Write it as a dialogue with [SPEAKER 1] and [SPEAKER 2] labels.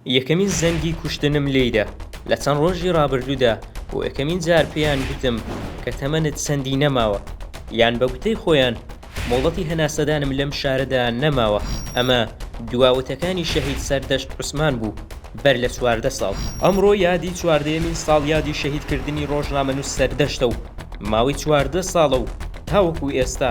[SPEAKER 1] یەکەمین زەنگی کوشتنم لێیدا لە چەند ڕۆژی ڕابردوودا، بۆ یەکەمین جار پێیان گوتم کە تەمەنت چەندی نەماوە، یان بە گوتەی خۆیان مۆڵەتی هەناسەدانم لەم شارەدا نەماوە، ئەمە دوا وتەکانی شەهید سەردەشت عوسمان بوو بەر لە چواردە ساڵ. ئەمڕۆ یادی چواردەیەمین ساڵیادی شەهیدکردنی ڕۆژنامەنووس سەردەشتە و ماوەی چواردە ساڵە و تاوەکو ئێستا،